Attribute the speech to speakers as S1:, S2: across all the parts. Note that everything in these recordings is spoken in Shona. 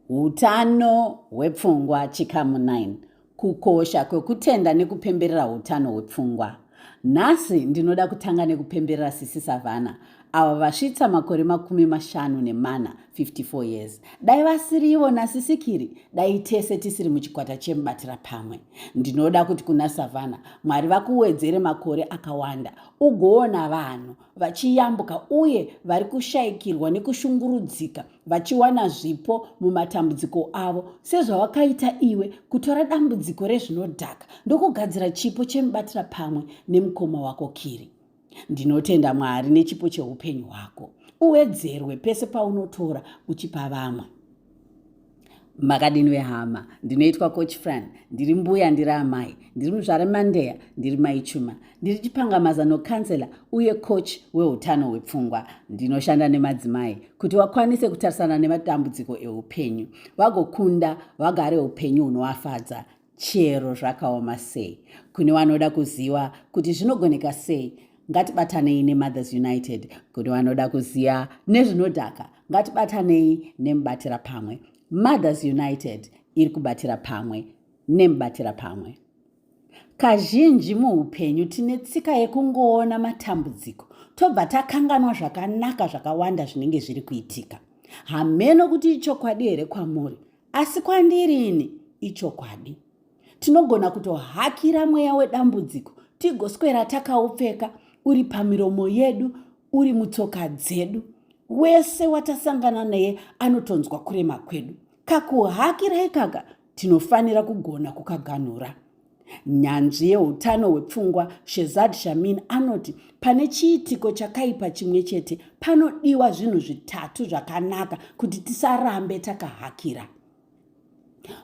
S1: Utano hwepfungwa chikamu 9 kukosha kwekutenda nekupemberera utano hwepfungwa nhasi ndinoda kutanga nekupemberera sisi savana avo vasvitsa makore makumi mashanu nemana 54 years dai vasirivo nasisikiri dai tese tisiri muchikwata chemubatira pamwe ndinoda kuti kuna savana mwari vakuwedzere makore akawanda ugoona vanhu vachiyambuka uye vari kushayikirwa nekushungurudzika vachiwana zvipo mumatambudziko avo sezvawakaita iwe kutora dambudziko rezvinodhaka ndokugadzira chipo chemubatira pamwe nemukoma wako kiri ndinotenda mwari nechipo cheupenyu hwako uwedzerwe pese paunotora uchipa vamwe makadini vehama ndinoitwa coach fran ndiri mbuya ndiri amai ndiri muzvare mandeya ndiri mai chuma ndiri chipangamazano kansela uye coach weutano hwepfungwa ndinoshanda nemadzimai kuti vakwanise kutarisana nematambudziko eupenyu vagokunda vagare upenyu hunovafadza chero zvakaoma sei kune vanoda kuziva kuti zvinogoneka sei ngatibatanei nemothers united kune vanoda kuziva nezvinodhaka ngatibatanei nemubatira pamwe mothers united iri kubatira pamwe nemubatira pamwe kazhinji muupenyu tine tsika yekungoona matambudziko tobva takanganwa zvakanaka zvakawanda zvinenge zviri kuitika hameno kuti ichokwadi here kwamuri Asi kwandiri ini ichokwadi. Tinogona kutohakira mweya wedambudziko tigoswera takaupfeka uri pamiromo yedu uri mutsoka dzedu. Wese watasangana naye anotonzwa kurema kwedu. Kakuhakira ikaka tinofanira kugona kukaganhura. Nyanzvi yeutano hwepfungwa Shezad Shamin anoti pane chiitiko chakaipa chimwe chete panodiwa zvinhu zvitatu zvakanaka kuti tisarambe takahakira.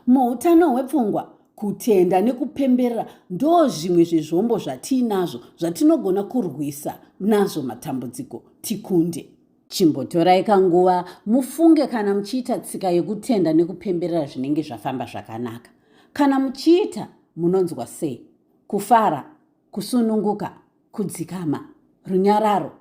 S1: Muutano hwepfungwa, kutenda nekupemberera ndo zvimwe zvezvombo zvatiinazvo zvatinogona kurwisa nazvo matambudziko tikunde. Chimbotorai kanguva mufunge kana muchiita tsika yekutenda nekupemberera zvinenge zvafamba zvakanaka. Kana muchiita, munonzwa sei? Kufara, kusununguka, kudzikama, runyararo.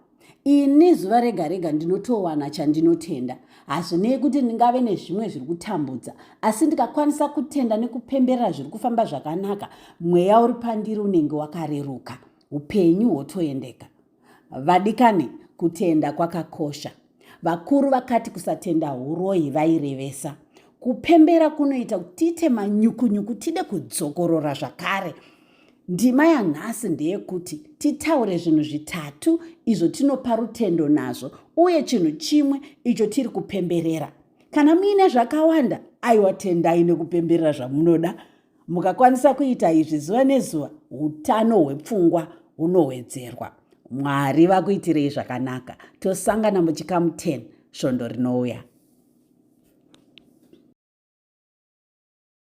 S1: Ini zuva rega rega ndinotowana chandinotenda. Hazvinei kuti ndingave nezvimwe zviri kutambudza, asi ndikakwanisa kutenda nekupemberera zviri kufamba zvakanaka, mweya uri pandiri unenge wakareruka, upenyu hwotoendeka. Vadikani, kutenda kwakakosha. Vakuru vakati kusatenda huroyi vairevesa kupembera kunoita kuti tiite manyukunyuku tide kudzokorora zvakare. Ndima yanhasi ndeyekuti titaure zvinhu zvitatu izvo tinopa rutendo nazvo uye chinhu chimwe icho tiri kupemberera. Kana muine zvakawanda, aiwa tendai nekupemberera zvamunoda. Mukakwanisa kuita izvi zuva nezuva, utano hwepfungwa hunowedzerwa. Mwari vakuitirei zvakanaka. Tosangana muchikamu 10 svondo rinouya.